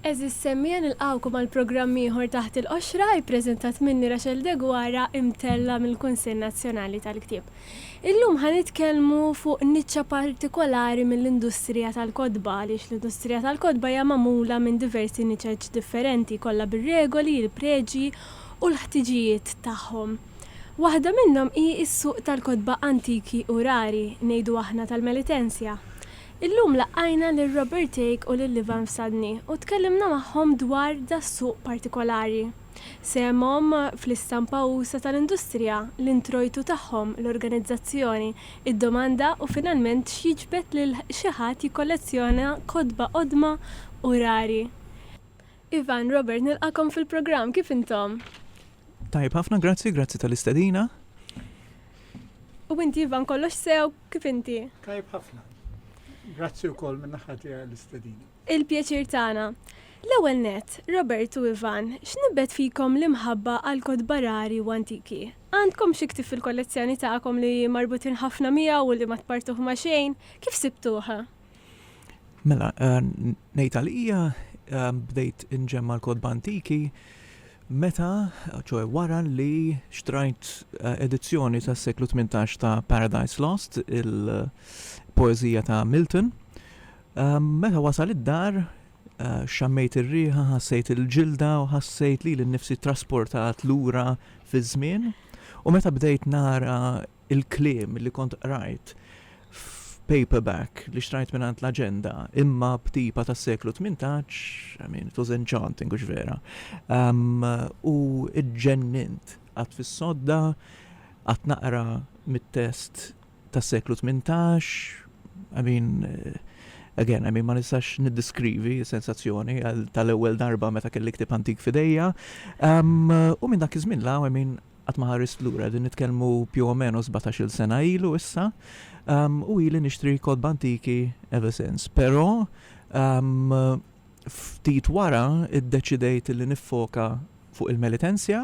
Għeżież semmiegħa nilqgħukom għal programm ieħor Taħt il-Qoxra, ippreżentat minni Rachel Deguara imtellgħa mill-Kunsill Nazzjonali tal-Ktieb. Illum ħa nitkellmu fuq niċċa partikolari mill-industrija tal-kotba għaliex l-industrija tal-kotba hija magħmula minn diversi niċeċ differenti kollha bir-regoli, il-preġi u l-ħtiġijiet tagħhom. Waħda minnhom hi s-suq tal-kotba antiki u rari, ngħidu aħna tal-Melitensia. Illum laqajna lil Robert Thake u lil Ivan Fsadni u tkellimna magħhom dwar das-suq partikolari. Sehemhom fl-istampa usa' tal-industrija, l-introjtu tagħhom, l-organizzazzjoni, id-domanda u finalment x'jiġbed lil xi ħadd jikkollezzjona kotba qodma u rari. Ivan, Robert, nilqagħkom fil-programm, kif intom? Tajjeb ħafna, grazzi, grazzi tal-istedina. U inti Ivan kollox sew kif inti? Tajb ħafna. Grazzi wkoll minn naħa tiegħi l-istedina. Il-pjaċir tagħna. L-ewwel nett, Robert u Ivan, x'nibbet fikom l-imħabba għall-kotba rari u antiki? Għandkom xi ktieb fil-kollezzjoni tagħkom li marbutin ħafna miegħu u li ma tpartuh ma' xejn? Kif sibtuh? Mela, eh, ngħid għalija eh, bdejt inġemma l-kodba antiki meta, ċoħe wara li xtrajt eh, edizzjoni ta' seklu 18 ta' Paradise Lost, il-poezija ta' Milton. Meta wasal id-dar, xammejt ir-riħa, ħassejt il-ġilda u ħassejt li l-nifsi trasportat lura fi żmien. U meta bdejt nara il-kliem li kont qrajt f'paperback li xtrajt mingħand l-aġenda imma b'tipa tas-seklu 18, I mean, it was enchanting, hux vera. Um, u ġġennint għad fis-sodda, għad naqra mit-test tas-seklu 18, I mean, eh, again, I mean, ma nistax niddiskrivi sensazzjoni tal-ewwel darba meta kelli ktib antik fidejja. Um, u minn dak iż-żmien la, I mean, Qatt ma ħarist lura, qegħdin nitkellmu più o meno sbatax-il sena ilu issa, u ili nixtri kotba antiki ever since. Però ftit wara iddeċidejt li niffoka fuq il-Melitensia,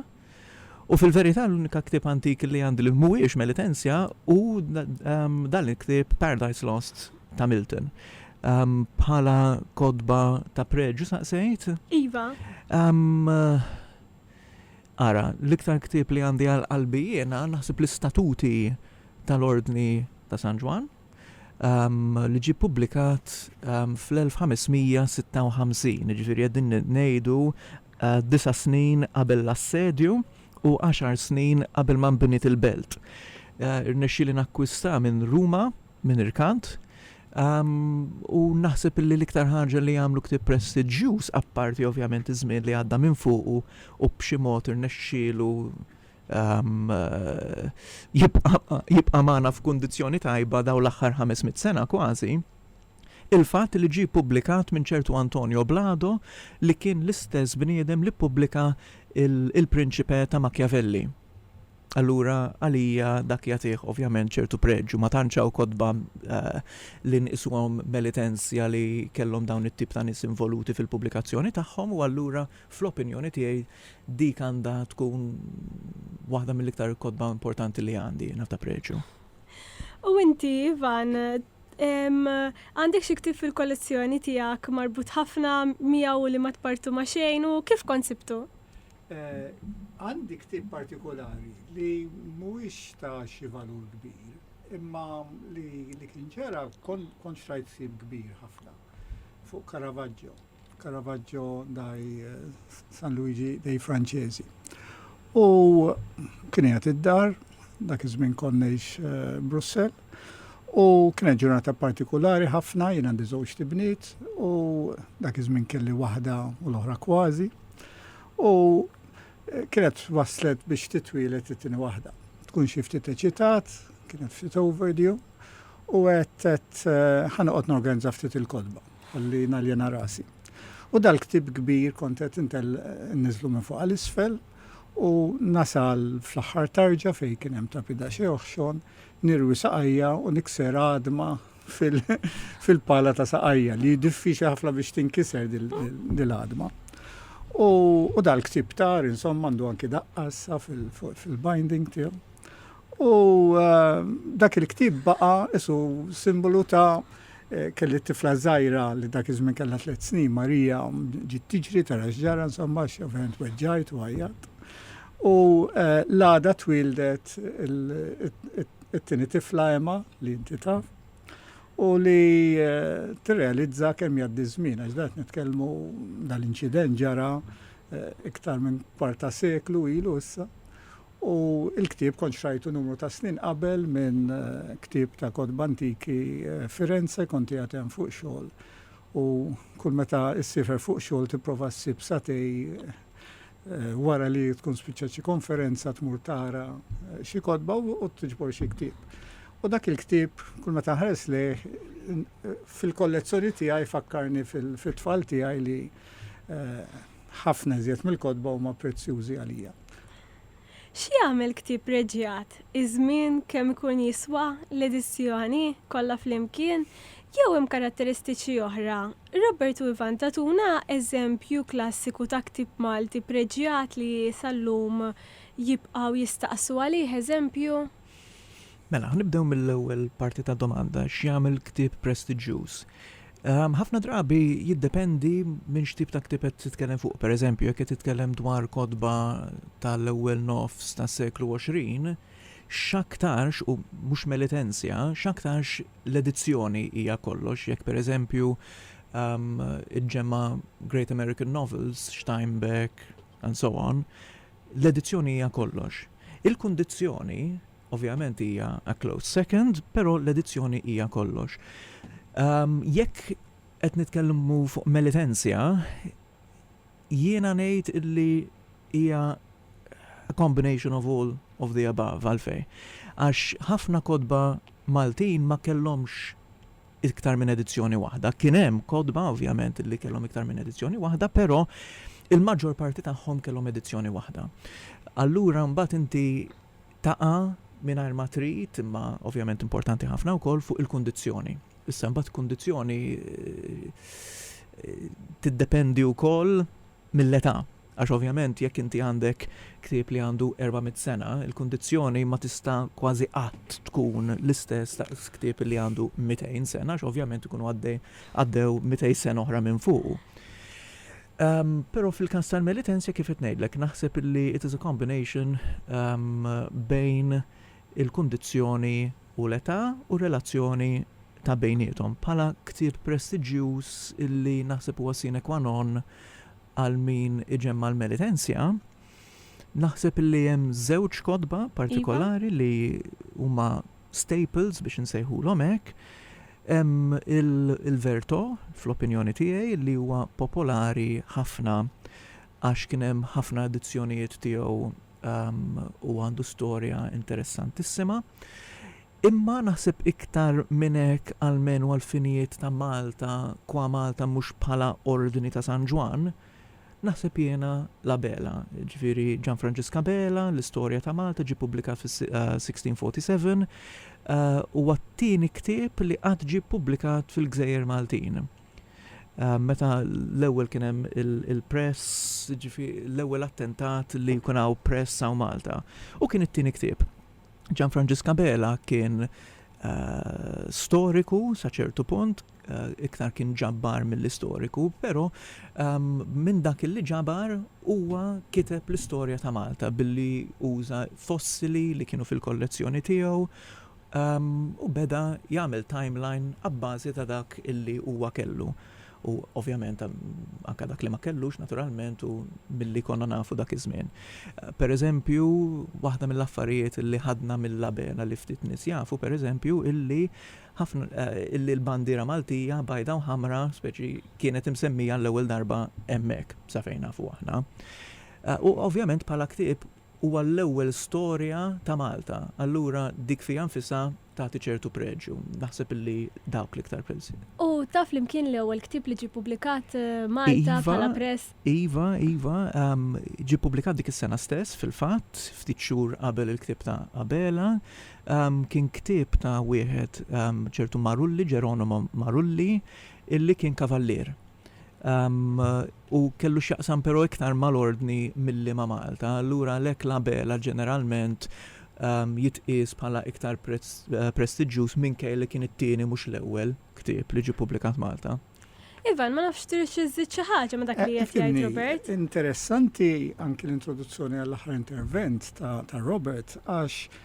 u fil-verità l-unika ktieb antik li għandi li mhuwiex Melitensia hu dan il-ktieb Paradise Lost ta' Milton. Bħala kotba ta' preġju saqsejt? Iva. Ara, l-iktar ktieb li għandi għal qalbi jiena naħseb l-Istatuti tal-Ordni ta' San Ġwann, li ġie ppubblikat fl-1556, jiġifieri qegħdin ngħidu disa' snin qabel l-assedju u għaxar snin qabel ma nbniet il-belt. Irnexxieli nakkwistah minn Ruma minn irkant, u naħseb illi l-iktar ħaġa li jagħmlu ktieb prestiġġjuż, apparti ovvjament iż-żmien li għadda minn fuqu u b'xi mod irnexxielu jibqa' magħna f'kundizzjoni tajba dawn l-aħħar ħames mitt sena kważi, il-fatt li ġie ppubblikat minn ċertu Antonio Blado li kien l-istess bniedem li ppubblika Il-Principe ta' Machiavelli. Allura għalija dak jagħtih ovvjament ċertu preġju. Ma tantx hawn kotba li nqisuhom melitenzja li kellhom dawn it-tip ta' nies involuti fil-pubblikazzjoni tagħhom u allura fl-opinjoni tiegħi dik għandha tkun waħda mill-iktar kotba importanti li għandi naf ta' preġju. U inti, Ivan, għandek xi ktieb fil-kollezzjoni tiegħek marbut ħafna miegħu li ma tpartu ma' xejn u kif kont sibtu? Għandi ktieb partikolari li mhuwiex ta' xi valur kbir, imma li li kien ġara kontx rajt ħsieb kbir ħafna fuq Caravaggio, Caravaggio dai San Luigi dei Francesi. U kien qiegħed id-dar, dak iż-żmien kont ngħix Brussell, U kienet ġurnata partikolari ħafna, jien għandi żewġ tibniet u dak iż-żmien kelli waħda u l-oħra kważi. U eh, kienet waslet biex titwilet it-tieni waħda. Tkun xi ftit eċitat, kienet ftit overdue, u għedt eh, ħanoqgħod norganizza ftit il-kodba, li naljena rasi. U dal-ktib kbir kontet intel nizlu minn fuq għal-isfel u nasal fl-axħar tarġa fej kien hemm tapida xi oħxon nirwi saqajja u nikser għadma fil-pala ta' saqajja li diffiċli ħafna biex tinkiser dil-għadma. U dal-ktib tar, insomma, għandu anki daqqassa fil-binding tiegħu. U eh, dak il-ktib baqa isu simbolu ta' Kelli tifla żgħira li dak iż-żmien kellha tliet snin, Marija, ġiet tiġri tara x'ġara insomma għax ovvjament weġġajt u għajjatt. U l-għada twieldet it-tieni tifla Emma li inti taf u li tirrealizza kemm jgħaddi ż-żmien għax dan qed nitkellmu dal-inċident ġara iktar minn kwarta seklu ilu issa. U l-ktieb kont xtrajtu numru ta' snin qabel minn ktieb ta' kotba antiki Firenze, kont qiegħed hemm fuq xogħol u kull meta issiefer fuq xogħol tipprova ssib satej wara li tkun spiċċat xi konferenza tmur tara xi kotba u tiġbor xi ktieb. U dak il-ktieb kull meta nħares lejh fil-kollezzjoni tiegħi fakkarni fit-tfal tiegħi li ħafna iżjed mill-kotba huma prezzjużi għalija. X'jagħmel ktieb preġjat? Iż-żmien, kemm ikun jiswa, l-edizzjoni, kollha flimkien, jew hemm karatteristiċi oħra? Robert u Ivan tagħtuna eżempju klassiku ta' ktieb Malti preġjat li sal-lum jibqgħu jistaqsu għalih, eżempju? Mela, nibdew mill-ewwel parti tad-domanda, x'jagħmel ktieb prestiġġjuż? Ħafna drabi jiddependi minn x'tip ta' ktieb qed titkellem fuq. Pereżempju, jekk qed titkellem dwar kotba tal-ewwel nofs tas-seklu 20, x'aktarx, u mhux melitenzja, x'aktarx l-edizzjoni hija kollox. Jekk pereżempju iġġemma' Great American Novels, Steinbeck, and so on, L-edizzjoni hija kollox. Il-kundizzjoni, ovvjament, hija a close second, però l-edizzjoni hija kollox. Jekk qed nitkellmu fuq Melitensia, jiena ngħid li hija a combination of all of the above. Għalfejn? Għax ħafna kotba Maltin ma kellhomx iktar minn edizzjoni waħda. Kien hemm kotba, ovvjament, li kellhom iktar minn edizzjoni waħda, però il-maġġor parti tagħhom kellhom edizzjoni waħda. Allura mbagħad inti taqa' mingħajr ma trid, imma ovvjament importanti ħafna wkoll, fuq il-kundizzjoni. Issa mbagħad kundizzjoni tiddependi wkoll mill-età. Għax ovvjament jekk inti għandek ktieb li għandu erba' mitt sena, il-kundizzjoni ma tista' kważi qatt tkun l-istess daqs ktieb li għandu mitejn sena għax ovvjament ikunu għaddej għaddew mitejn sena oħra minn fuqu. Però fil-każ tal-Melitensia kif qed ngħidlek, naħseb li it is a combination bejn il-kundizzjoni u l-età u r-relazzjoni ta' bejniethom bħala ktieb prestiġġjuż li naħseb huwa sine qua non għal min iġemma' l-Melitensia, naħseb illi hemm żewġ kotba partikolari li huma staples biex insejħulhom hekk. Hemm il-Verto, fl-opinjoni tiegħi, li huwa popolari ħafna għax kien hemm ħafna edizzjonijiet tiegħu u għandu storja interessantissima. Imma naħseb iktar minn hekk almenu għall-finijiet ta' Malta, qua Malta mhux bħala Ordni ta' San Ġwann, naħseb jiena l-Abela, jiġifieri Gian Franġisk Abela, l-istorja ta' Malta ġie ppubblikat fis-1647, huwa t-tieni ktieb li qatt ġie ppubblikat fil-gżejjer Maltin. Meta l-ewwel kien hemm il-press, jiġifieri l-ewwel attentat li jkun hawn press hawn Malta. U kien it-tieni ktieb. Gianfranġisk Abela kien storiku sa ċertu punt, iktar kien ġabbar mill-istoriku, però minn dak li ġabar huwa kiteb l-istorja ta' Malta billi uża fossili li kienu fil-kollezzjoni tiegħu u beda jagħmel timeline abbażi ta' dak li huwa kellu. u ovvjament anke dak li ma kellux naturalment u milli konna nafu dak iż-żmien. Pereżempju, waħda mill-affarijiet li ħadna mill-Labela li ftit nies jafu, pereżempju, illi illi l-bandiera Maltija bajda u ħamra speċi kienet imsemmija għall-ewwel darba hemmhekk, sa fejn nafu aħna. U ovvjament bħala ktieb huwa l-ewwel storja ta' Malta, allura dik fiha nfisha tagħti ċertu preġju. Naħseb illi dawk l-iktar prezzi. U ta' flimkien l-ewwel ktieb li ġie publikat Malta iva, bħala press. Iva, iva, um, ġie publikat dik is-sena stess fil-fatt, ftit xhur qabel il-ktieb ta' Abela, um, kien ktieb ta' wieħed um, ċertu Marulli, Ġeronimo Marulli, illi kien kavallier. Um, u kellu x'jaqsam però iktar mal-Ordni milli ma' Malta, allura għalhekk l-Abela ġeneralment jitqies bħala iktar prestiġġjuż minkejja li kien it-tieni mhux l-ewwel ktieb li ġie ppubblikat Malta. Ivan, ma nafx tridx iżżid xi ħaġa ma' dak li qed jgħid Robert? Interessanti anki l-introduzzjoni għall-aħħar intervent ta' Robert għax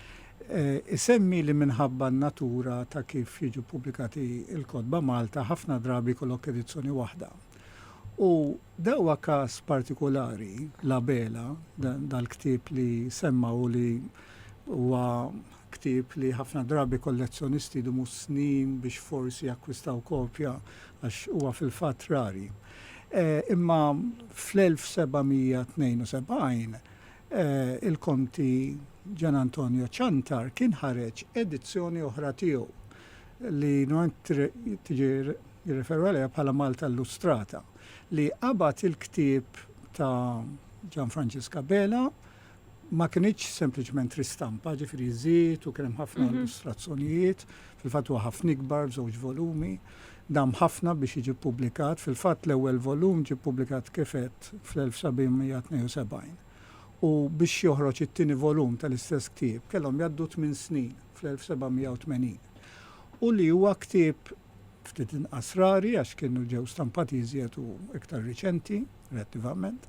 isemmi li minħabba n-natura ta' kif jiġu ppubblikati l-kotba Malta ħafna drabi jkollok edizzjoni waħda. U dan huwa każ partikulari, La Bela, dal-ktieb li semma u li huwa ktieb li ħafna drabi kollezzjonisti jdumu snin biex forsi jakkwistaw kopja għax huwa fil-fatt rari. Imma fl-1772 il-Konti Gian Antonio Ciantar kien ħareġ edizzjoni oħra tiegħu li normalment tiġi jirreferu għaliha bħala Malta Illustrata li qabad il-ktieb ta' Gian Franġisk Abela, ma kinitx sempliċement ristampa, ġifieri żied u kien hemm ħafna illustrazzjonijiet, fil-fatt huwa ħafna ikbar b'żewġ volumi, Dam ħafna biex jiġi ppubblikat, fil-fatt l-ewwel volum ġie ppubblikat kif għedt fl-1772. U biex joħroġ it-tieni volum tal-istess ktieb kellhom jgħaddu tmien snin, fl-1780. U li huwa ktieb ftit inqas rari għax kienu ġew stampati iżjed u iktar riċenti, relattivament.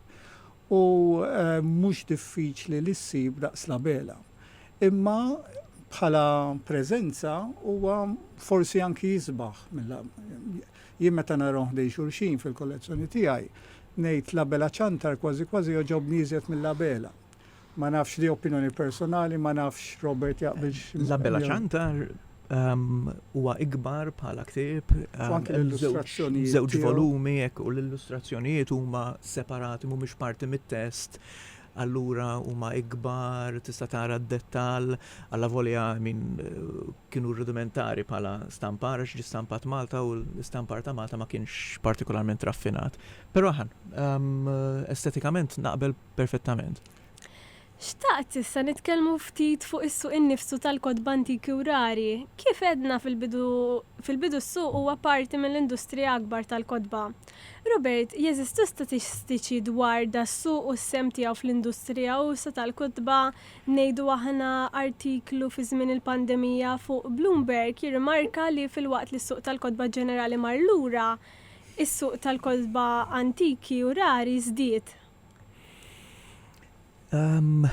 U mhux diffiċli li ssib daqs l-Abela. Imma bħala preżenza huwa forsi anki isbaħ mill-Abela. Jien meta narahom ħdejn xulxin fil-kollezzjoni tiegħi, ngħid l-Abela ċantar kważi kważi jogħġobni iżjed mill-Abela. Ma nafx, di opinjoni personali, ma nafx Robert jaqbilx miegħi. L-Abela ċantar huwa ikbar bħala ktieb. U anke l-illustrazzjonijiet. Żewġ volumi hekk u l-illustrazzjonijiet huma separati mhumiex parti mit-test. Allura huma ikbar, tista' tara d-dettall, alla volja min kienu rudimentari bħala stampar għax ġie stampat Malta u l-istampar ta' Malta ma kienx partikolarment raffinat. Però estetikament naqbel perfettament. Xtaqt issa nitkellmu ftit fuq is-suq innifsu tal-kotba antiki u rari. Kif għedna fil-bidu, fil-bidu s-suq huwa parti mill-industrija akbar tal-kotba. Robert, jeżistu statistiċi dwar das-suq u s-sehem tiegħu fl-industrija usa' tal-kotba, ngħidu aħna artiklu fi żmien il-pandemija fuq Bloomberg jirrimarka li filwaqt li s-suq tal-kotba ġenerali mar lura, is-suq tal-kotba antiki u rari żdied. Um,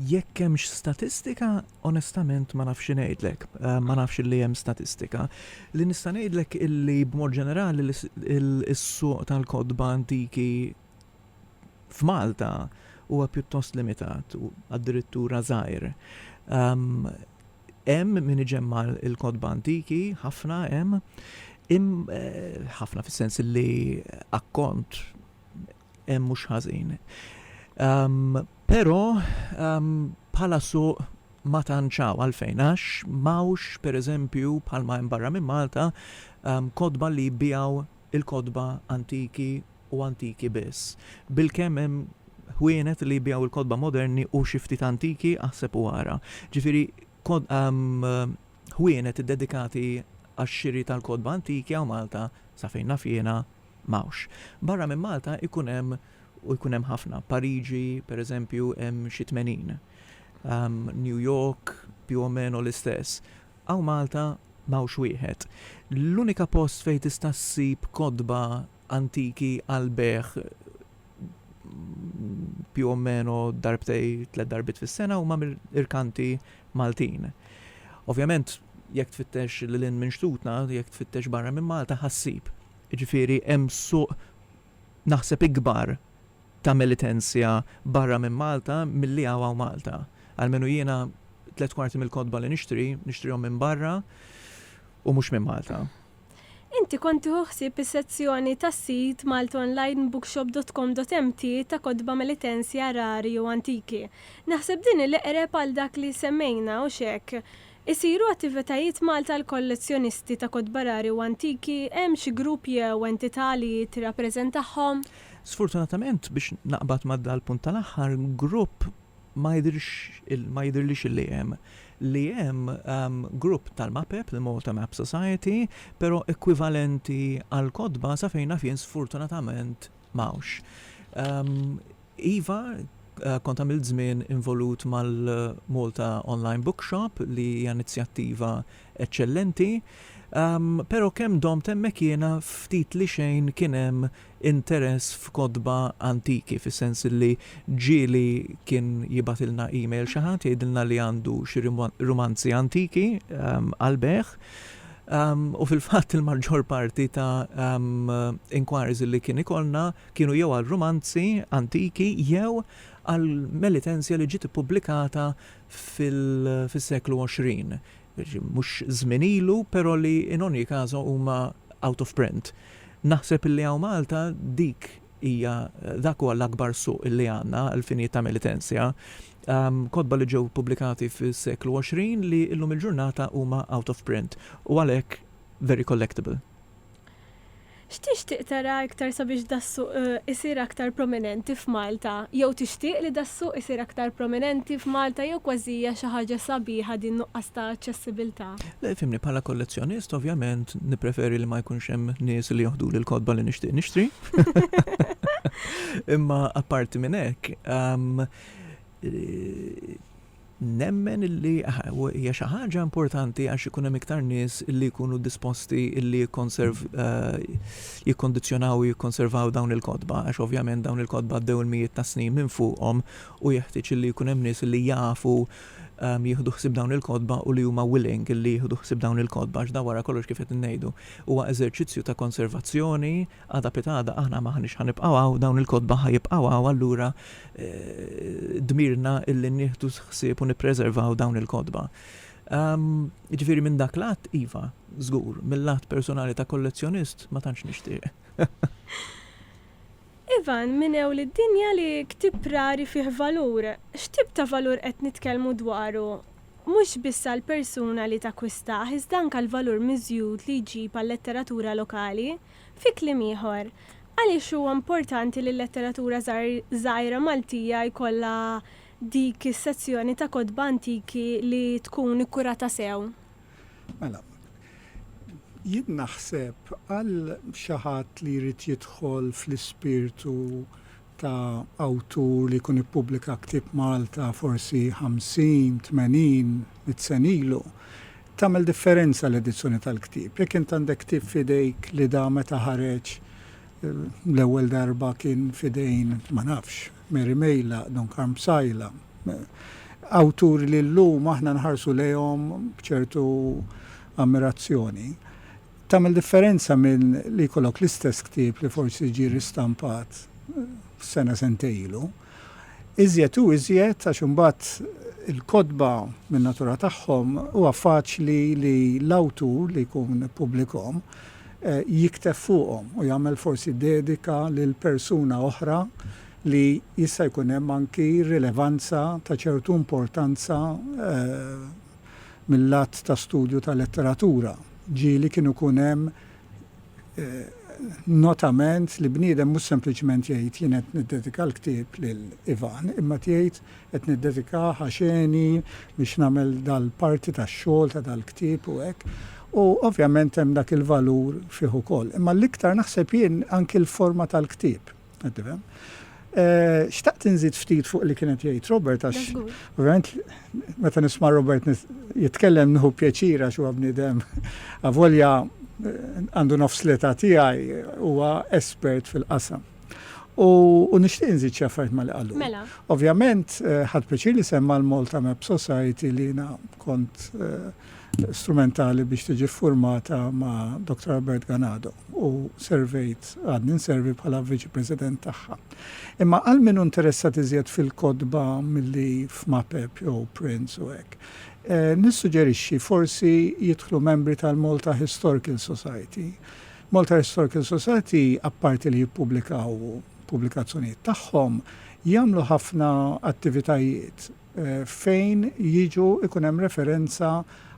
jekk hemmx statistika, onestament ma nafx ngħidlek, um, ma nafx li hemm statistika. Li nista' ngħidlek illi b'mod ġenerali is-suq tal-kodba antiki f'Malta huwa pjuttost limitat, addirittura żgħir. Um, hemm min iġemma il-kodba antiki, ħafna hemm, eh, ħafna fis-sens li akkont Mhux ħażin. Però bħala suq ma tantx hawn għalfejn għax m'hawnx pereżempju bħalma hemm barra minn Malta kotba li jbiegħu l-kotba antiki u antiki biss. Bilkemm hemm ħwienet li jbiegħu l-kotba moderni u xi ftit antiki aħseb u ara. Ġifieri ħwienet iddedikati għax-xiri tal-kotba antiki hawn Malta, sa fejn naf jiena, m'hawnx. Barra minn Malta jkun hemm, u jkun hemm ħafna, Pariġi, per eżempju, hemm xi tmenin. New York più o meno l-istess. Hawn Malta m'hawnx wieħed. L-unika post fejn tista' ssib kotba antiki għall-bejgħ più o meno darbtej, tliet darbiet fis-sena huma mir-rkanti Maltin. Ovvjament, jekk tfittex lil hinn minn xtutna, jekk tfittex barra minn Malta, ħa ssib. Jiġifieri hemm suq naħseb ikbar ta' militenzja barra minn Malta milli hawn hawn Malta. Almenu jiena tliet kwarti mill-kotba li nixtri, nixtrihom minn barra u mhux minn Malta. Inti kont tieħu ħsieb is-sezzjoni tas-sit maltonlinebookshop.com.mt ta' kotba militenzja rari u antiki. Naħseb din hi l-eqreb għal dak li semmejna, hux hekk? Isiru attivitajiet Malta għal kollezzjonisti ta' kotba rari u antiki? Hemm xi grupp jew entità li tirrappreżentahom? Sfortunatament, biex naqbad ma' dal-punt tal-aħħar, grupp ma jidhirx il, ma jidhirlix li hemm. Li hemm grupp tal-MAPEP, il-Malta Map Society, però ekwivalenti għall-kotba, sa fejn naf jien sfortunatament, Mawx. Iva, kont għamilt żmien involut mal-Malta Online Bookshop li hija inizjattiva eċċellenti, pero' kemm domt hemmhekk jiena ftit li xejn kien hemm interess f'kotba antiki, fis-sens li ġieli kien jibgħatilna email xi ħadd jgħidilna li għandu xi rumanzi antiki għall-bejgħ, U fil-fatt il-maġġor parti ta' inquiries li kien ikollna kienu jew għal rumanzi antiki jew għal melitenzja li ġiet ippubblikata fis-seklu 20. Mhux żmien ilu, però li in ogni caso huma out of print. Naħseb li hawn Malta dik hija dak huwa l-akbar suq li għandna għall-finijiet ta' emitenzja. Kotba li ġew ippubblikati fis-seklu 20 li illum il-ġurnata huma out of print u għalhekk very collectible. X'tixtieq tara iktar sabiex das-suq isir aktar prominenti f'Malta? Jew tixtieq li das-suq isir aktar prominenti f'Malta jew kważi hija xi ħaġa sabiħa din nuqqas ta' aċċessibiltà? Le, fhimni, bħala kollezzjonist, ovvjament, nippreferi li ma jkunx hemm nies li joħduli l-kotba li nixtieq nixtri. Imma apparti minn hekk, ehm, eh, nemmen li hija xi ħaġa importanti għax ikun hemm iktar nies li jkunu disposti li jikkonserv eh, jikkondizzjonaw u jikkonservaw dawn il-kotba għax ovvjament dawn il-kotba għaddew il-mijiet ta' snin minn fuqhom u jeħtieġ li jkun hemm nies li jafu jieħdu ħsieb dawn il-kotba u li huma willing li jieħdu ħsieb dawn il-kotba għax dan wara kollox kif qed ngħidu huwa eżerċizzju ta' konservazzjoni għada pitgħada aħna m'aħniex ħa nibqgħu hawn dawn il-kotba ħa jibqgħu hawn allura dmirna illi nieħdu ħsieb u nippreservaw dawn il-kotba. Jiġifieri minn dak l-att iva, żgur, mill-att personali ta' kollezzjonist ma tantx nixtieq. Ivan, Min hu li d-dinja li ktieb rari fih valur? X'tip ta' valur qed nitkellmu dwaru? Mhux biss għall-persuna li takkwistah iżda anke l-valur miżjud li jġib għal-letteratura lokali? Fi kliem ieħor, għaliex huwa importanti li l-letteratura żgħira Maltija jkollha dik is-sezzjoni ta' kotba antiki li tkun ikkurata sew? Mela, jien naħseb għal xi ħadd li jrid jidħol fl-ispirtu ta' awtur li jkun ippubblika ktieb Malta forsi ħamsin, tmenin, mitt sena ilu, tagħmel differenza l-edizzjoni tal-ktieb. Jekk int għandek ktieb f'idejk li da meta ħareġ l-ewwel darba kien f'idejn, ma nafx, Mary Mejla, Don Karm Psaila, awturi li llum aħna nħarsu lejhom b'ċertu ammirazzjoni. Tagħmel differenza minn li jkollok l-istess ktieb li forsi ġie ristampat sena sentejn ilu. Iżjed u iżjed għax imbagħad il-kotba min-natura tagħhom huwa faċli li l-awtur li jkun ippubblikhom jikteb fuqhom u jagħmel forsi dedika lil persuna oħra li jista' jkun hemm anki rilevanza ta' ċertu importanza mil-lat ta' studju ta' letteratura, ġieli kien ikun hemm notament li bniedem mhux sempliċement jgħid jien qed niddedika l-ktieb lil Ivan imma tgħid Qed niddedikah għax għeni biex nagħmel dal-parti tax-xogħol ta' dal-ktieb u hekk. U ovvjament hemm dak il-valur fih ukoll. Imma l-iktar naħseb jien anki l-forma tal-ktieb, qed tifhem. Xtaqt inżid ftit fuq li kien qed jgħid Robert għax ovvjament meta nisma' Robert jitkellem nieħu pjaċir għax huwa bniedem avolja għandu nofs l-età tiegħi huwa espert fil-qasam. U nixtieq inżid xi affarijiet ma' li qalu. Mela. Ovvjament, eh, ħadd pjaċir li semma l-Malta Map Society li jiena kont eh, strumentali biex tiġi ffurmata ma' Dr. Albert Ganado u servejt għadni nservi bħala viċi president tagħha. Imma għal min interessat iżjed fil-kodba milli f'Mapep jew Prince u hekk. Eh, nissuġġerixxi forsi jidħlu membri tal-Malta Historical Society Malta Historical Society apparti li jippubblikaw pubblikazzjonijiet tagħhom, jagħmlu ħafna attivitajiet fejn jiġu ikun hemm referenza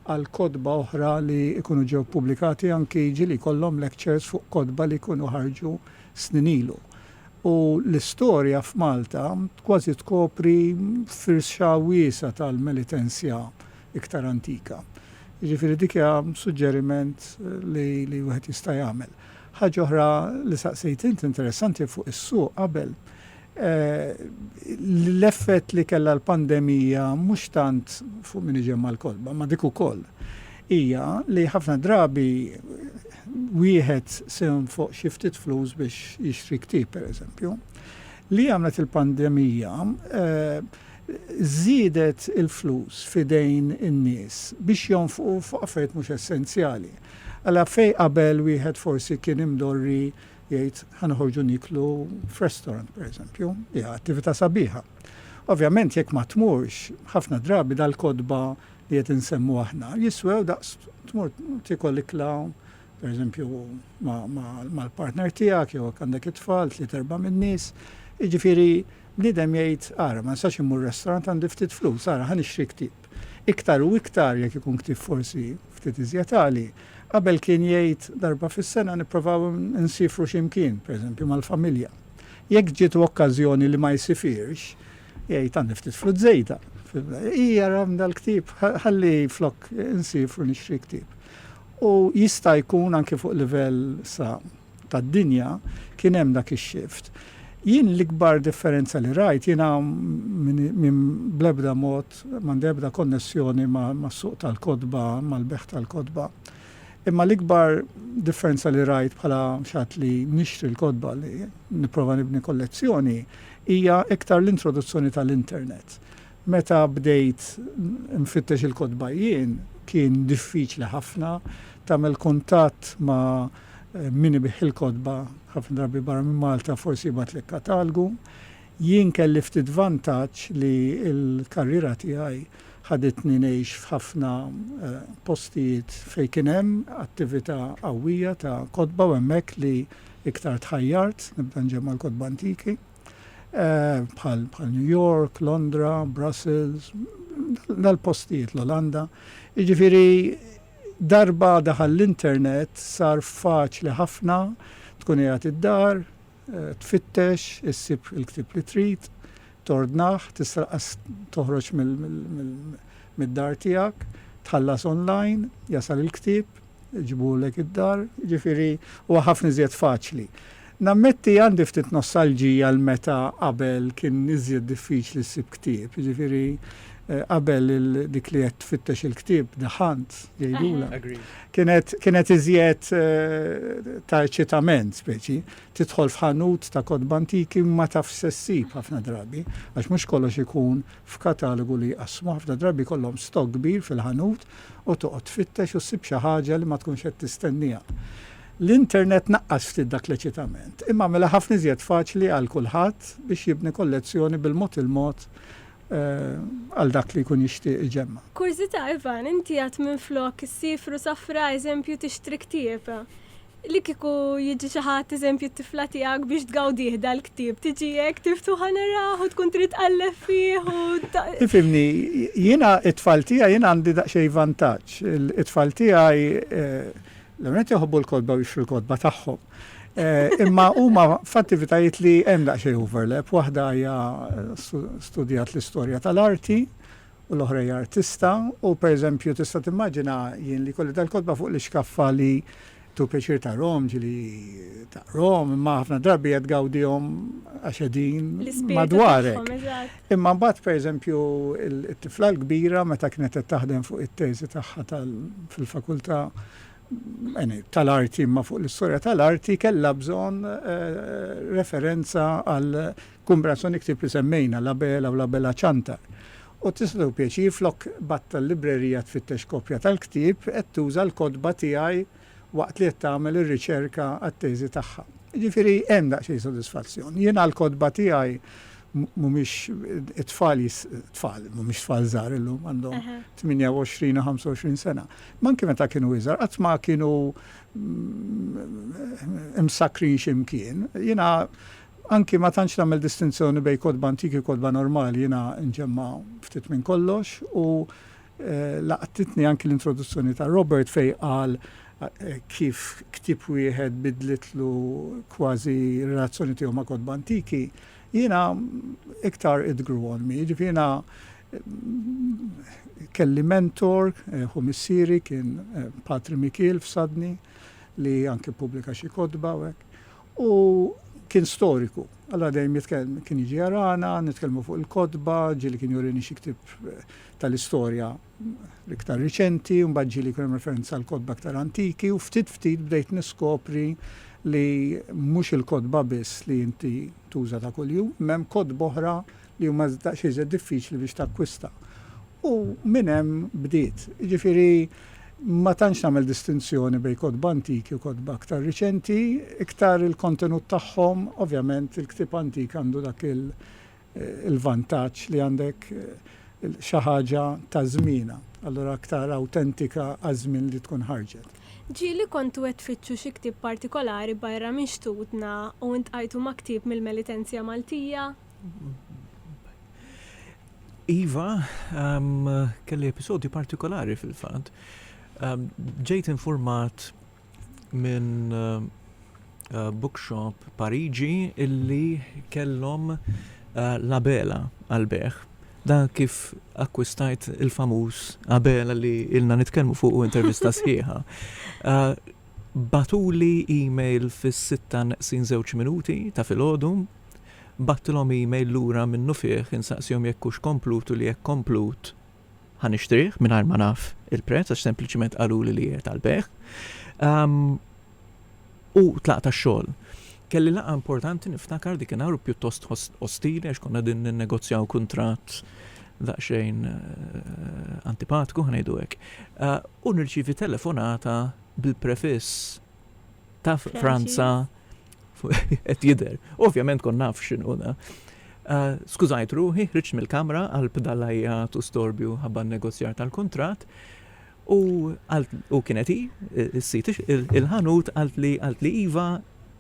għal kotba oħra li jkunu ġew ppubblikati anki jiġieli jkollhom lectures fuq kotba li jkunu ħarġu snin ilu. U l-istorja f'Malta kważi tkopri firxa wiesgħa tal-Melitensja iktar antika. Jiġifieri dik hija suġġeriment li li wieħed jista' jagħmel. Ħaġa oħra li saqsejt int interessanti fuq is-suq qabel, l-effett li kellha l-pandemija mhux tant fuq min iġemma' l-kotba, ma' dik ukoll, hija li ħafna drabi wieħed se jonfoq xi ftit flus biex jixtri ktieb pereżempju. Li għamlet il-pandemija, żiedet il-flus f'idejn in-nies biex jonfqu fuq affarijiet mhux essenzjali. Alla fejn qabel wieħed forsi kien imdorri jgħid ħa noħorġu nieklu f'restaurant pereżempju, hija attività sabiħa. Ovvjament jekk ma tmurx, ħafna drabi dal-kotba li qed insemmu aħna jiswew daqs tmur tiekol ikla pereżempju mal-partner tiegħek jew jekk għandek it-tfal, tliet erba' min-nies. Jiġifieri Bniedem jgħid, 'Ara, ma nistax immur restaurant, għandi ftit flus, ara, ħa nixtri ktieb. Iktar u iktar, jekk ikun ktieb forsi ftit iżjed għali. Qabel kien jgħid, 'Darba fis-sena nipprovaw insiefru xi mkien, pereżempju mal-familja. Jekk ġietu okkażjoni li ma jsifirx, jgħid, 'Għandi ftit flus żejda. Hi, ara, dal-ktieb, ħalli flok insiefru nixtri ktieb. U jista' jkun anki fuq livell sa. tad-dinja kien hemm dak ix-shift. Jien l-ikbar differenza li rajt, jiena bl-ebda mod m'għandi ebda konnessjoni mas-suq tal-kotba, mal-bejgħ tal-kotba, imma l-ikbar differenza li rajt bħala xi ħadd li nixtri l-kotba li nipprova nibni kollezzjoni hija iktar l-introduzzjoni tal-internet. Meta bdejt nfittex il-kotba jien, kien diffiċli ħafna tagħmel kuntatt ma' min ibigħ il-kotba, ħafna drabi barra minn Malta forsi jibgħatlek katalgu. Jien kelli ftit vantaġġ li l-karriera tiegħi ħaditni ngħix f'ħafna postijiet fejn kien hemm attività qawwija ta' kotba u hemmhekk li iktar tħajjart nibda nġemma' l-kotba antiki. bħal New York, Londra, Brussels, dal-postijiet l-Olanda. Jiġifieri darba daħal l-internet sar faċli ħafna tkun qiegħed id-dar, eh, tfittex, issib il-ktib li trid, tordnaħ, tisraqas toħroġ mid-dar tiegħek, tħallas online, jasal il-ktib, iġibulek id-dar, jiġifieri huwa ħafna iżjed faċli. Nammetti għandi ftit nostalġija għal meta qabel kien iżjed diffiċli ssib ktieb, jiġifieri qabel dik li qed tfittex il-ktieb, the hunt, jgħidulha, kienet iżjed ta' eċitament speċi, tidħol f'ħanut ta' kotba antiki ma tafx se ssib ħafna drabi, għax mhux kollox ikun f'katalogu li jqassmu, ħafna drabi jkollhom stock kbir fil-ħanut u toqgħod tfittex u ssib xi ħaġa li ma tkunx qed tistennieha. L-internet naqqas ftit dak l-eċitament, imma għamilha ħafna iżjed faċli għal kulħadd biex jibni kollezzjoni bil-mod il-mod għal dak li jkun jixtieq iġemma'. Kurżità, Ivan, inti għad minflok issifru safra eżempju tixtri ktieb? Li kieku jiġi xi ħadd eżempju t-tifla tiegħek biex tgawdih dal-ktieb, tiġi hekk tiftuħa naraħ u tkun trid tqalleb fih u. Tifhimni, jiena t-tfal tiegħi jiena għandi daqsxejn vantaġġ. It-tfal tiegħi l-ewwel nett jħobbu l-kotba u jixtru l-kotba tagħhom. Imma huma f'attivitajiet li hemm daqsxejn overlap. Waħda hija studjat l-istorja tal-arti, u l-oħra hija artista u pereżempju tista' timmaġina jien li jkolli dal-kotba fuq l-ixkaffa li tu pjaċir tarhom ġieli taqrom imma ħafna drabi qed tgawdihom għax qegħdin madwarek. Imma mbagħad pereżempju it-tifla l-kbira meta kienet qed taħdem fuq it-teżi tagħha fil-fakultà tal-arti imma fuq l-istorja tal-arti kellha bżonn referenza għal Kumbrazzo nikteb li semmejna La Bela u La Bela Cianta u tista' tieħu pjaċir flok batta l-librerija tfittex kopja tal-ktieb qed tuża l-kotba tiegħi waqt li qed tagħmel ir-riċerka għat-teżi tagħha. Jiġifieri hemm daqsxejn sodisfazzjon. Jien għall-kotba tiegħi mhumiex it-tfal tfal, mhumiex tfal żgħar illum għandhom 28 u 25 sena. Ma anke meta kienu iżgħar qatt ma kienu imsakkrin x'imkien. Jiena Anki ma tantx nagħmel distinzjoni bejn kotba antiki u kotba normali, jiena nġemma' ftit minn kollox u laqtitni anki l-introduzzjoni ta' Robert fejn qal kif ktieb wieħed biddlitlu kważi r-relazzjoni tiegħu ma' kotba antiki, jiena iktar it grew on me. Jiġifieri jiena kelli mentor, ħu missieri kien Patri Mikiel f'Sudney li anki ppubblika xi kotba u hekk. U kien storiku. Alla dejjem jitkellem, kien jiġi jarana, nitkellmu fuq il-kotba, ġieli kien jurini xi ktieb tal-istorja l-iktar riċenti, u mbagħad ġieli jkun hemm referenza għall-kotba iktar antiki, u ftit ftit bdejt niskopri li mhux il-kotba biss li inti tuża ta' kuljum, imma hemm kotba oħra, li huma daqsxejn iżjed diffiċli biex takkwista. U minn hemm bdiet. Jiġifieri ma tantx nagħmel distinzjoni bejn kotba antiki u kotba aktar riċenti, iktar il-kontenut tagħhom, ovvjament il-ktieb antik għandu dak il-vantaġġ li għandek xi ħaġa ta' żmienha, allura aktar awtentika għaż-żmien li tkun ħarġet. Ġieli kontu qed tfittxu xi ktieb partikolari barra minn xtutna u ltqajtu ma' ktieb mill-Melitensia Maltija? Iva, kelli episodju partikolari fil-fatt. Ġejt informat minn eh, bookshop Pariġi illi kellhom eh, labela għal-beħ da kif akkwistajt il-famuż Abela li ilna nitkellmu fuq u intervista sħiħa. Uh, batuli e-mail fis-6 naqsin żewġ minuti ta' filgħodu Bgħattilhom email lura minnufih insaqsihom jekk hux komplut u li jekk komplut, ħa nixtrih mingħajr ma naf il-prezz għax sempliċiment qaluli li qiegħed għall-bejgħ. U tlaqt għax-xogħol. Kelli laqgħa importanti niftakar dikinhar u pjuttost ostili għax konna qegħdin ninnegozjaw kuntratt daqsxejn antipatku, ħa ngħidu hekk. U nirċievi telefonata bil-prefiss. ta' Franza qed jidher. Ovvjament kon naf x'inhu da. Eh, skużajt ruħi, ħriġt mill-kamra għal bdalajja tu storbju ħabba negozjar tal-kuntratt u u kienet hi s-sit il-ħanut għalt li għalt li iva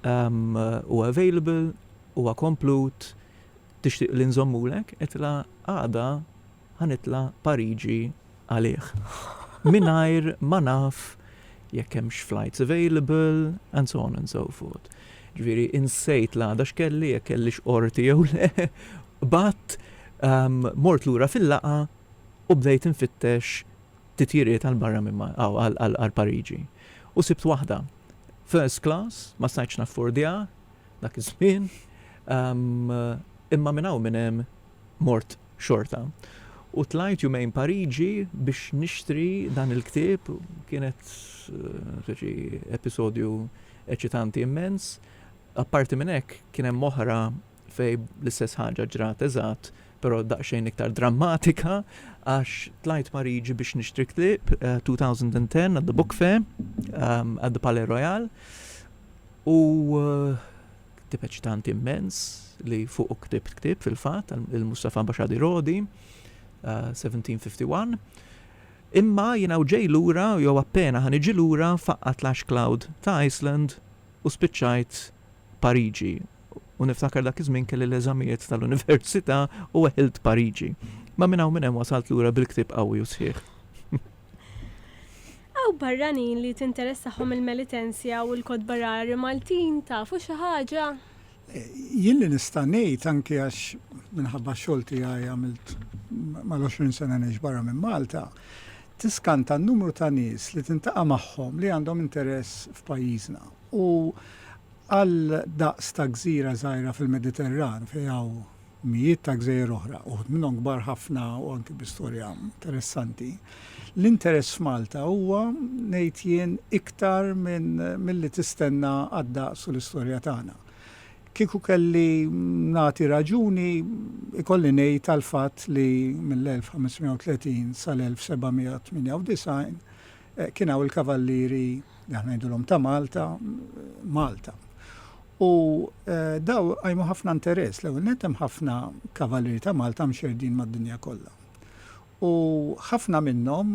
ehm, u available u komplut tixtieq li nżommulek qed la għada Ħa nitla' Pariġi għalih. Mingħajr ma naf jekk hemmx flights available and so on and so forth. Ġifieri insejt l-għada x'kelli, jekk kellix qorti jew le. Qbadt, mort lura fil-laqgħa u bdejt infittex titjiriet għal barra minn għal Pariġi. U sibt waħda. First class, ma stajtx naffordjah dak iż-żmien, imma minn hawn minn hemm. mort xorta. U tlajt jumejn Pariġi biex nixtri dan il-ktieb, kienet xi episodju eċitanti immens. Apparti minn hekk, kien hemm oħra fejn l-istess ħaġa ġrat eżatt, però daqsxejn iktar drammatika, għax tlajt Pariġi biex nixtri ktieb, 2010 at the Book Fair, at the Palais Royal, u Ktieb eċitanti immens li fuqu ktibt ktieb fil-fatt, il-Mustafa Baxadi Rodi, 1751. Eh, Imma jiena ġej lura, jew appena ħan iġi lura, faqqat l-ash cloud ta' Iceland u spiċċajt Pariġi. U niftakar dak iż-żmien kelli l-eżamijiet tal-università u weħilt Pariġi. Ma minn hawn minn hemm wasalt lura bil-ktieb qawwi u sħiħ. Hawn barranin li tinteressahom il-Melitensia u l-kotba rari Maltin, tafu xi ħaġa? Jien li nista' ngħid, anki għax minħabba x-xogħol tiegħi għamilt mal-20 sena ngħix barra minn Malta, tiskanta n-numru ta' nies li tintaqa' magħhom li għandhom interess f'pajjiżna. U għal daqs ta' gżira żgħira fil-Mediterran fejn hawn mijiet ta' gżejjer oħra, uħud minnhom kbar ħafna u anki bi storja interessanti. L-interess f'Malta huwa, ngħid jien, iktar minn milli tistenna għad-daqs u l-istorja tagħna. Kieku kelli nagħti raġuni, ikolli ngħid għall-fatt li mill-1530 sal-1798 Kien hawn il-Kavallieri, li aħna ngħidulhom ta' Malta, Malta. U daw qajmu ħafna interess. L-ewwel nett hemm ħafna Kavallieri ta' Malta mxerrdin mad-dinja kollha. U ħafna minnhom,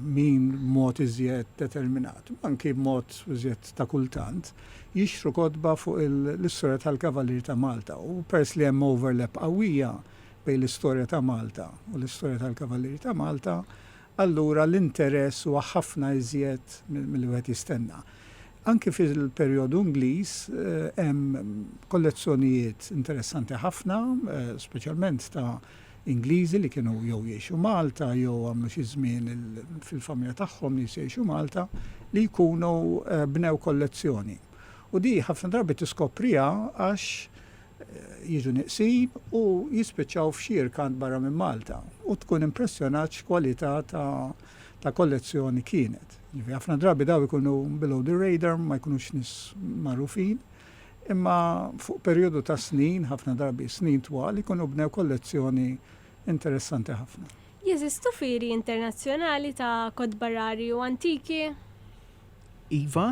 min b'mod iżjed determinat, u anki b'mod iżjed ta' kultant, jixtru kotba fuq l-istorja tal-Kavallieri ta' Malta. U peress li hemm overlap qawwija bejn l-istorja ta' Malta u l-istorja tal-Kavallieri ta' Malta, allura l-interess huwa ħafna iżjed milli wieħed jistenna. Anki fil-perjodu Ingliż hemm kollezzjonijiet interessanti ħafna, speċjalment ta' Ingliżi li kienu jew jgħixu Malta jew għamlu xi żmien fil-familja tagħhom nies jgħixu Malta li jkunu bnew kollezzjoni. U din ħafna drabi tiskopriha għax jiġu nieqsin u jispiċċaw f'xi rkant barra minn Malta u tkun impressjonat x'kwalità ta' kollezzjoni kienet. Ġifieri ħafna drabi dawn ikunu below the radar, ma jkunux nies magħrufin, imma fuq perjodu ta' snin, ħafna drabi snin twal, ikunu bnew kollezzjoni interessanti ħafna. Jeżistu fieri internazzjonali ta' kotba rari u antiki? Iva,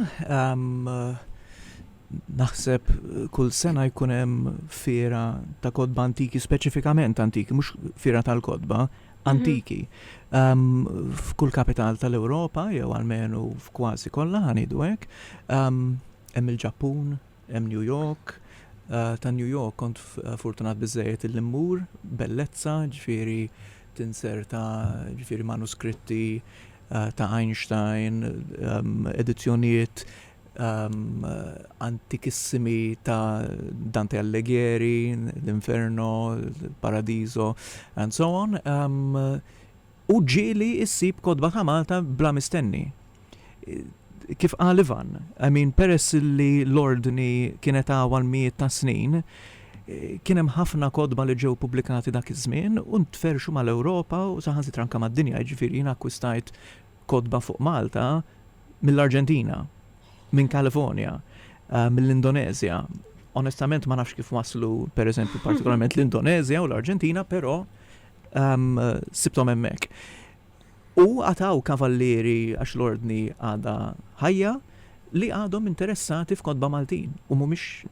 naħseb kull sena jkun hemm fiera ta' kodba antiki, speċifikament antiki, mhux fiera tal-kodba, mhm. antiki. F'kull kapital tal-Ewropa, jew almenu f'kważi kollha ħanidu hekk, hemm il-Ġappun, Hemm New York, ta' New York kont fortunat biżżejjed illi mmur, bellezza, ġifieri tinserta, ġifieri manuskritti ta' Einstein, edizzjonijiet antikissimi ta' Dante Alleghieri, l-Inferno, il-Paradiso and so on. U ġieli ssib kotba ta' Malta bla mistenni. Kif qal Ivan, I mean peress li l-Ordni kienet hawn għal mijiet ta' snin, kien hemm ħafna kotba li ġew pubblikati dak iż-żmien u ntferrxu mal-Ewropa u saħansitra anke mad-dinja, jiġifieri jiena akkwistajt kotba fuq Malta mill-Arġentina, minn California, mill-Indoneżja. Onestament ma nafx kif waslu, pereżempju, partikolarment l-Indoneżja u l-Arġentina, però Sibthom hemmhekk. U għataw kavallieri għax l-ordni għadha ħajja li għadhom interessati f'kotba Maltin u mhumiex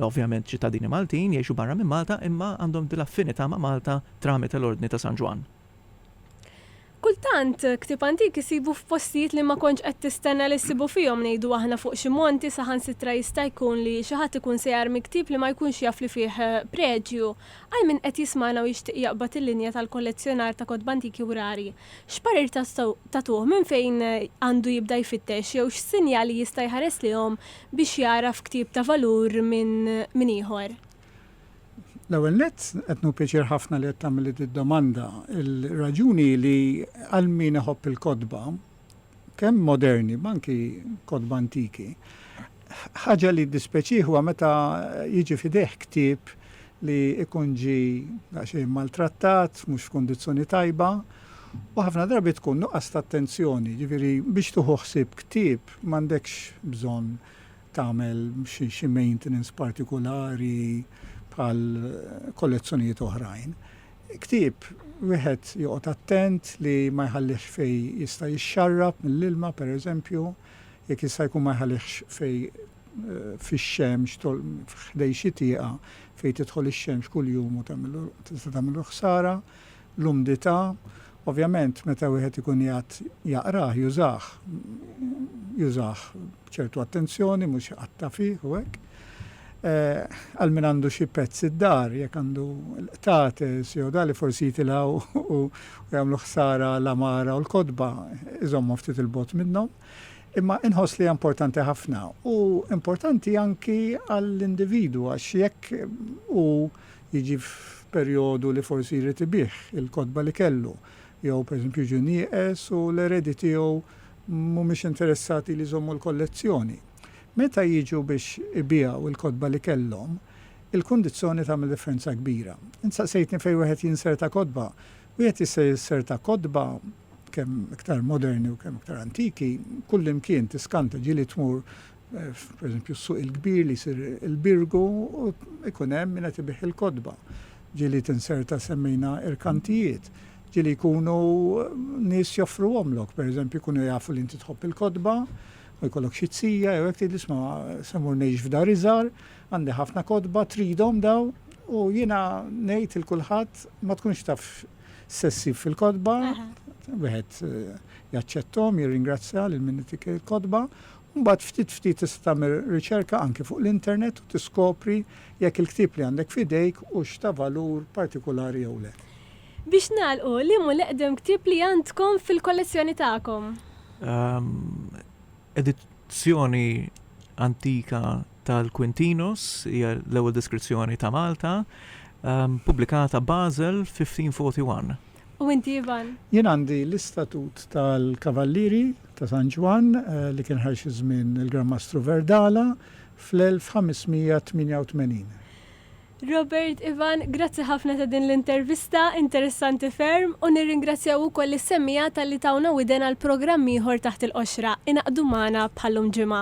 ovvjament ċittadini Maltin jgħixu barra minn Malta imma għandhom dil-affinità ma' Malta tramite l-Ordni ta' San Ġwann. Kultant, ktieb antik issibu f'postijiet li ma kontx qed tistenna li ssibu fihom, ngħidu aħna fuq xi monti, saħansitra jista' jkun li xi ħadd ikun se jarmi ktieb li ma jkunx jaf li fih preġju. Għal min qed jismagħna u jixtieq jaqbad il-linja tal-kollezzjonar ta' kotba antiki u rari, x'parir tagħtuh, minn fejn għandu jibda jfittex jew x'sinjali jista' jħares lejhom biex jagħraf ktieb ta' valur minn ieħor? L-ewwel nett, qed nieħu pjaċir ħafna li qed tagħmilli did-domanda. Il-raġuni hi li għal min iħobb il-kotba, kemm moderni ma anki kotba antiki, ħaġa li ddispeċih huwa meta jiġi f'idejh ktieb li jkun ġie daqsxejn maltrattat, mhux f'kundizzjoni tajba, u ħafna drabi tkun nuqqas ta' attenzjoni. Jiġifieri biex tieħu ħsieb ktieb m'għandekx bżonn tagħmel xi maintenance partikulari bħal kollezzjonijiet oħrajn. Ktieb wieħed joqgħod attent li ma jħallihx fejn jista' jixxarrab mill-ilma pereżempju, jekk jista' jkun ma jħallihx fejn fix-xemx ħdejn xi tieqa fejn tidħol ix-xemx kuljum u tista' tagħmillu ħsara. l-umdità, ovvjament meta wieħed ikun qiegħed jaqrah, jużah, jużah b'ċertu attenzjoni, mhux iqatta' fih u hekk. Għal min għandu xi pezz id-dar, jekk għandu l-qtates jew dali forsi jitilgħu u jagħmlu ħsara l-amara u l-kotba, iżommu ftit il-bot minnhom. Imma inħoss li importanti ħafna u importanti anki għall-individu għax jekk u jiġi f'perjodu li forsi jrid ibigħ il-kotba li kellu, jew pereżempju jiġu nieqes u l-eredi tiegħu mhumiex interessati li jżommu l-kollezzjoni. Meta jiġu biex ibiegħu il-kotba li kellhom, il-kundizzoni tagħmel differenza kbira. Int saqsejtni fejn wieħed jinserta kotba. Wieħed jista' jinserta kotba, kemm iktar moderni u kemm iktar antiki, kullimkien, tiskanta, ġieli tmur Pereżempju s-suq il-kbir li jsir il-Birgu u jkun hemm min qed ibigħ il-kotba. Ġieli tinserta semmejna irkantijiet. Ġieli jkunu nies joffruhomlok, pereżempju jkunu jafu li inti tħobb il-kotba u jkollok xi tsija jew hekk tgħidli isma' se mmur ngħix f'dar iżgħar, għandi ħafna kotba, tridhom dawn? U jiena ngħid il kulħadd ma tkunx taf se ssib fil-kotba, wieħed jaċċetthom, jirringrazzja lil min itik il-kotba Mbagħad ftit ftit tista' tagħmel riċerka anki fuq l-internet u tiskopri jekk il-ktieb li għandek f'idejk hux ta' valur partikulari jew le. Biex nagħlqu, liem hu l-eqdem ktieb li għandkom fil-kollezzjoni tagħkom? Edizzjoni antika tal-Quintinos, hija l-ewwel deskrizzjoni ta' Malta, pubblikata Basel 1541. U inti Ivan? Jien għandi l-istatut tal-Kavallieri ta' San Ġwann, li kien ħaj xi żmien il-Gran Mastru Verdala, fl-1588. Robert, Ivan, grazzi ħafna ta' din l-intervista, interessanti ferm, u nirringrazzjaw ukoll lis-semmiegħa talli tawna widen għal programm ieħor Taħt il-Qoxra, ingħaqdu magħna bħal-lum ġimgħa.